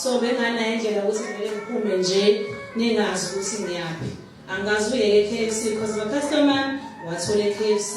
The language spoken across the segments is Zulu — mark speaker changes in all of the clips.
Speaker 1: so benganayo indlela ukuthi kumele ngiphume nje ningazi ukuthi ngiyaphi angazi uyeke KFC because my customer wathole KFC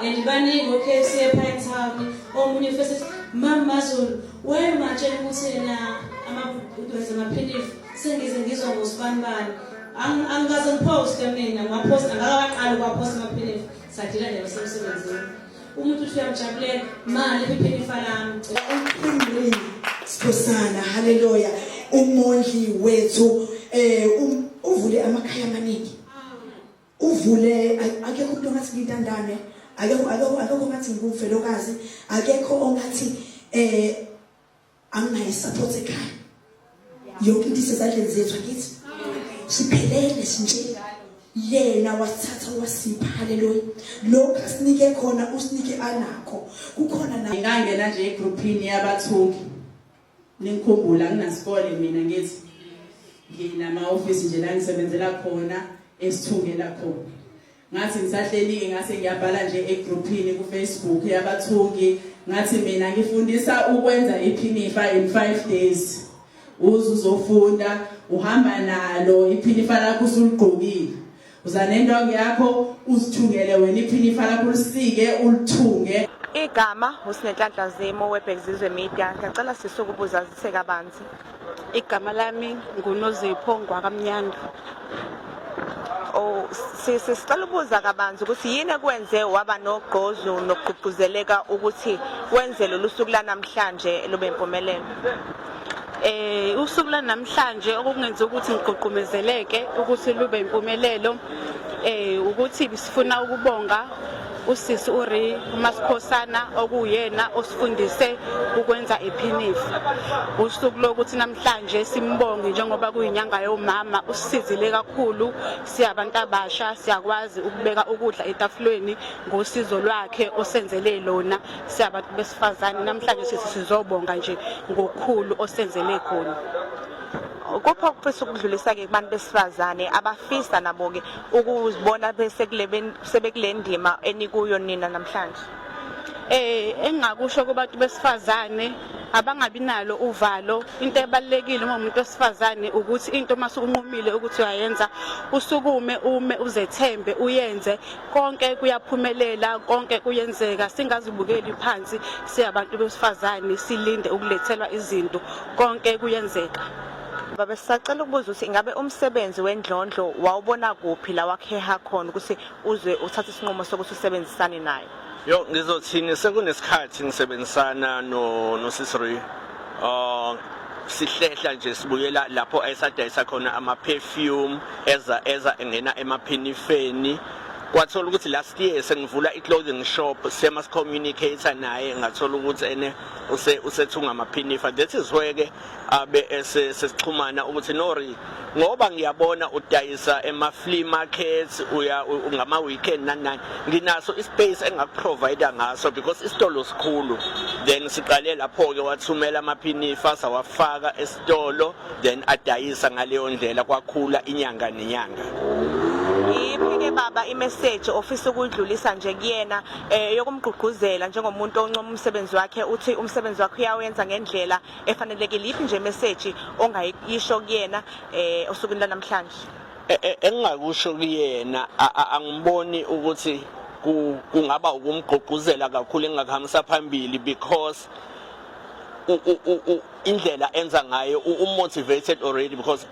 Speaker 1: and baningi o KFC ePine Town omunye futhi mama Zulu wayemajela ukuthi yena ama udonsa amaphilisi Sengize ngizwa ngosibanibani. Angikaze ngiposte mina, ngaposta ngakaqala ukwaposta amaphilisi. Sadila nje basemsebenzini. Umuntu uthi uyamjabulela, mali iphiphini falami.
Speaker 2: Uphindile. Sikhosana, haleluya. Umondli wethu eh um, uvule amakhaya amaningi. Uvule akekho umuntu ongathi ngintandane, akekho akekho akekho ongathi ngumfelokazi, akekho ongathi eh anginayo support ekhaya yonke into isezandleni zethu akithi siphelele sinje yena wasithatha wasipha haleluya lokho asinike khona usinike anakho kukhona na ngangena nje egroupini
Speaker 3: yabathuki ningikhumbula nginasikole mina ngithi nginama office nje la ngisebenzela khona esithungela khona Ngathi ngisahlelike ngase ngiyabhala nje egrouphini kufacebook yabathungi ngathi mina ngifundisa ukwenza iphinifa in 5 days uze uzofunda uhamba nalo iphinifa lakho usuligqokile uza nendongo yakho uzithungele wena iphinifa lakho ulisike ulithunge igama
Speaker 4: usinenhlanhla zimo webhekizizwe media ngiyacela sisuke ubuzazise kabanzi igama
Speaker 5: lami ngunozipho ngwakamnyanda
Speaker 4: Oh, sisicela ubuza kabanzi ukuthi yini ekwenze waba nogqozu nokugqugquzeleka ukuthi wenze lolu suku lanamhlanje lube impumelelo
Speaker 5: eh usuku lanamhlanje okungenza ukuthi ngigqugqumezeleke ukuthi lube impumelelo eh ukuthi sifuna ukubonga usisi uri umasikhosana okuyena osifundise ukwenza iphinifu usuku lokuthi namhlanje simbonge njengoba kuyinyanga yomama usisizile kakhulu siyabantu abasha siyakwazi ukubeka ukudla etafulweni ngosizo lwakhe osenzele lona siyabantu besifazane namhlanje sisi sizobonga nje ngokukhulu osenzele khona kupho ukufisa ukudlulisa-ke kubantu besifazane abafisa nabo-ke ukuzibona besekule ndima enikuyo nina namhlanje eh engingakusho kubantu besifazane abangabi nalo uvalo into ebalekile uma umuntu osifazane ukuthi into uma sukunqumile ukuthi uyayenza usukume ume uzethembe uyenze konke kuyaphumelela konke kuyenzeka singazibukeli phansi siyabantu besifazane silinde ukulethelwa izinto konke kuyenzeka Baba
Speaker 4: sisacela ukubuza ukuthi ingabe umsebenzi wendlondlo wawubona kuphi la wakheha khona ukuthi uzwe uthathe isinqumo sokuthi usebenzisane naye? Yo ngizothini
Speaker 6: sekunesikhathi ngisebenzisana no no Sisri. Uh ah, sihlehla nje sibuyela lapho esadayisa khona ama perfume eza eza engena emaphinifeni kwathola ukuthi last year sengivula i-clothing shop sema si-communicator naye ngathola ukuthi ene usethunga amaphinifa that is where-ke abe esesixhumana ukuthi nori ngoba ngiyabona udayisa ema flea markets uya ngama weekend nani nani nginaso ispace engakuprovider ngaso because isitolo sikhulu then siqale lapho ke wathumela amaphinifa sawafaka esitolo then adayisa ngaleyo ndlela kwakhula inyanga nenyanga iyiphi-ke
Speaker 4: baba imeseji ofisa ukuyidlulisa nje kuyena um yokumgqugquzela njengomuntu oncoma umsebenzi wakhe uthi umsebenzi wakhe uyawenza ngendlela efanelekile yiphi nje message ongayisho kuyena eh osukwini lanamhlanje e, e, engingakusho
Speaker 6: kuyena angiboni ukuthi kungaba ukumgqugquzela kakhulu engakuhambisa phambili because indlela enza ngayo umotivated already because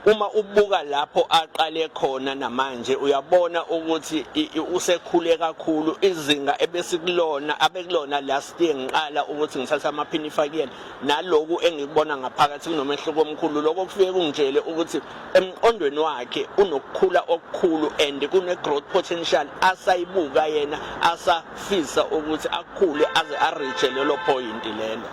Speaker 6: uma ubuka lapho aqale khona namanje uyabona ukuthi usekhule kakhulu izinga ebesikulona abekulona last year ngiqala ukuthi ngithatha amaphini ifakiyena naloku engikubona ngaphakathi kunomehluko omkhulu lokho kufike kungitshele ukuthi emqondweni wakhe unokukhula okukhulu and kune growth potential asayibuka yena asafisa ukuthi akhule aze areach lelo point lelo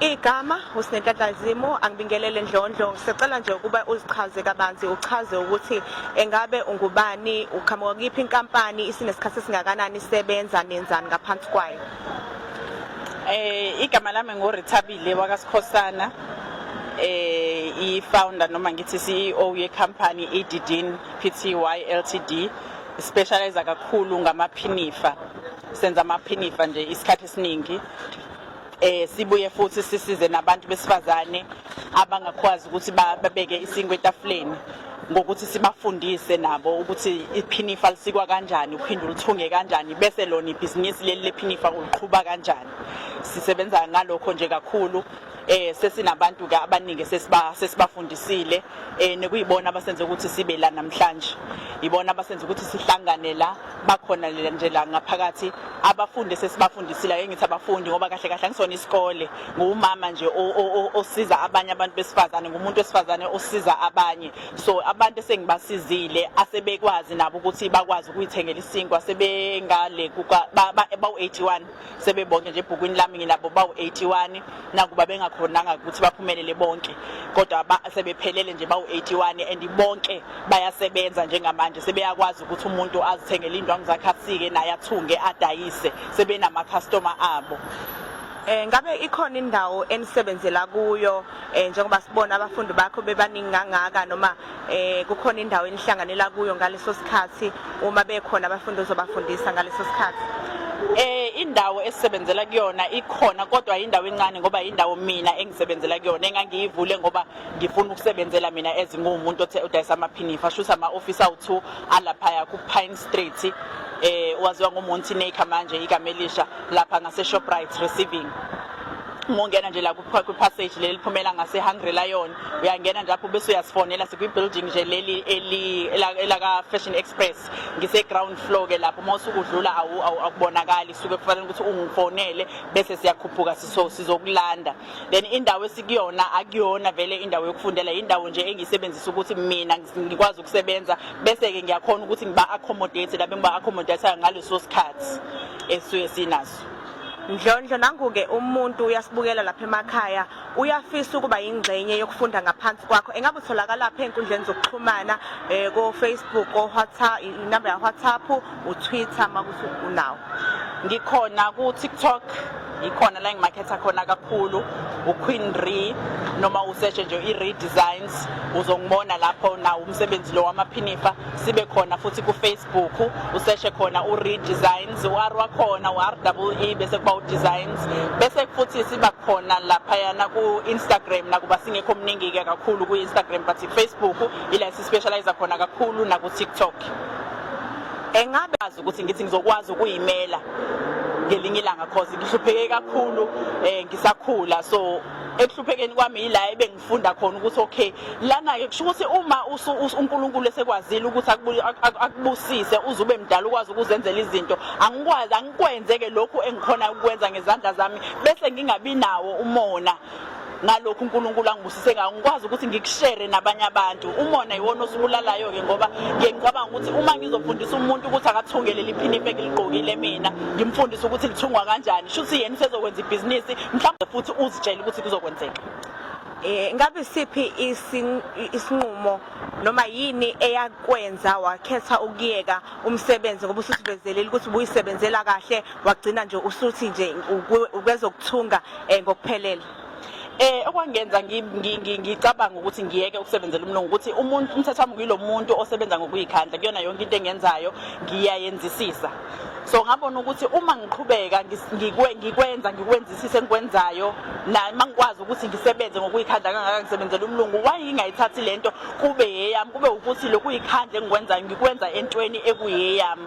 Speaker 6: Igama
Speaker 4: uSinenhlanhla Zimu angibingelele Ndlondlo sicela nje ukuba uzichaze kabanzi uchaze ukuthi engabe ungubani uqhamuka kuyiphi inkampani isinesikhathi esingakanani isebenza nenzani ngaphansi kwayo Eh
Speaker 5: igama lami nguRithabile wakaSikhosana eh i-founder noma ngithi CEO yecompany iDidin Pty Ltd specialize kakhulu ngamaphinifa senza amaphinifa nje isikhathi esiningi eh sibuye futhi sisize nabantu besifazane abangakwazi ukuthi babeke isinkwe etafuleni ngokuthi sibafundise nabo ukuthi iphinifa lisikwa kanjani uphinde ulithunge kanjani bese lona ibhizinisi leli lephinifa uliqhuba kanjani sisebenza ngalokho nje kakhulu eh sesinabantu ke abaningi sesiba sesibafundisile eh nekuyibona abasenze ukuthi sibe la namhlanje ibona abasenze ukuthi sihlangane la bakhona nje la ngaphakathi abafundi sesibafundisile ake ngithi abafundi ngoba kahle kahle angisona isikole ngumama nje osiza abanye abantu besifazane ngumuntu wesifazane osiza abanye so abantu esengibasizile asebekwazi nabo ukuthi bakwazi ukuyithengela isinkwa sebengale kuka ba-81 sebebonke nje ebhukwini lami nginabo bawu-81 nakuba bengakhonanga ukuthi baphumelele bonke kodwa sebephelele nje bawu-81 and bonke bayasebenza njengamanje sebeyakwazi ukuthi umuntu azithengele indwangu zakhe asike naye athunge adayise sebenamakhastoma abo Eh ngabe
Speaker 4: ikhona indawo enisebenzela kuyo eh njengoba sibona abafundi bakho bebaningi kangaka noma eh kukhona indawo enihlanganela kuyo ngaleso sikhathi uma bekhona abafundi ozobafundisa ngaleso sikhathi eh
Speaker 5: indawo esisebenzela kuyona ikhona kodwa indawo encane ngoba indawo mina engisebenzela kuyona engangiyivule ngoba ngifuna ukusebenzela mina ezingumuntu othe udayisa amaphinifa shusa ama office awu2 alapha ku Pine Street eh waziwa ngoMonty Naker manje ikamelisha lapha ngase Shoprite receiving uma ungena nje la kwi-passage leli liphumela ngase-hungry lion uyangena nje apho bese uyasifonela sikwi-building nje leli elaka-fashion express ngise-ground floor ke lapho uma usukudlula akubonakali suke kufanele ukuthi ungifonele bese siyakhuphuka sizokulanda then indawo esikuyona akuyona vele indawo yokufundela yindawo nje engiyisebenzisa ukuthi mina ngikwazi ukusebenza bese-ke ngiyakhona ukuthi ngiba-accommodate labe ngiba-accommodateayo ngaleso sikhathi esuke sinaso Ndlondlo
Speaker 4: nanguke umuntu uyasibukela lapha emakhaya uyafisa ukuba yingxenye yokufunda ngaphansi kwakho engabe utholakala phe enkundleni zokuxhumana eh ko Facebook ko WhatsApp inamba ya WhatsApp u Twitter makuthi unawo ngikhona
Speaker 5: ku TikTok ikhona la engimakhetha khona kakhulu uQueen Re noma usearch nje iRe Designs uzongibona lapho nawo umsebenzi lo wamaphinifa sibe khona futhi kufacebook useshe khona uredesigns u-r wakhona u-r double e bese kuba udesigns bese futhi siba khona laphayana ku-instagram nakuba singekho omningi-ke kakhulu kwi-instagram but ifacebook ila sispecialize khona kakhulu nakutiktok engabe azi ukuthi ngithi ngizokwazi ukuyimela ngelinye ilanga cause ngihlupheke kakhulu um ngisakhula so ekuhluphekeni kwami yila funda khona ukuthi okay lana ke kusho ukuthi uma uNkulunkulu esekwazile ukuthi akubusise uze ube mdala ukwazi ukuzenzela izinto angikwazi angikwenze ke lokhu engikhona ukwenza ngezandla zami bese ngingabi nawo umona ngalokhu uNkulunkulu angibusise ngawo ngikwazi ukuthi ngikushere nabanye abantu umona yiwona osibulalayo ke ngoba ngiye ngicabanga ukuthi uma ngizofundisa umuntu ukuthi akathungele liphinipe ngiligqokile mina ngimfundise ukuthi lithungwa kanjani shuthi yena usezokwenza ibhizinisi mhlawumbe futhi uzitshele ukuthi kuzokwenzeka Eh
Speaker 4: ngabe siphi isinqumo noma yini eyakwenza wakhetha ukuyeka umsebenzi ngoba ususivezelile ukuthi ubuyisebenzela kahle wagcina nje usuthi nje ukwezokuthunga eh, ngokuphelele eh
Speaker 5: okwangenza ngicabanga ukuthi ngiyeke ukusebenzela umlungu ukuthi umuntu umthetho wami kuyilomuntu osebenza ngokuyikhandla kuyona yonke into engenzayo ngiyayenzisisa so ngabona ukuthi uma ngiqhubeka ngikwenza ngikwenzisise engikwenzayo naye uma ngikwazi ukuthi ngisebenze ngokuyikhandla kangaka ngisebenzela umlungu wayingayithathi le nto kube yeyami kube ukuthi lokhu yikhandla engikwenzayo ngikwenza entweni ekuyeyami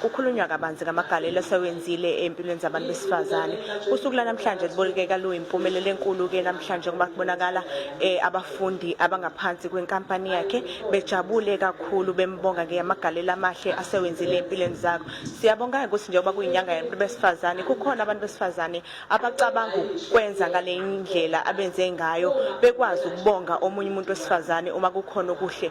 Speaker 4: Kukhulunywa kabanzi ngamagalelo asewenzile empilweni zabantu besifazane. Usuku lanamhlanje libolekeka luyimpumelelo enkulu ke namhlanje ngoba kubonakala eh, abafundi abangaphansi kwenkampani yakhe bejabule kakhulu bembonga ngeyamagalelo amahle asewenzile empilweni zabo. Siyabonga ukuthi njengoba kuyinyanga yabantu besifazane kukhona abantu besifazane abacabanga ukwenza ngale ndlela abenze ngayo bekwazi ukubonga omunye umuntu wesifazane uma kukhona okuhle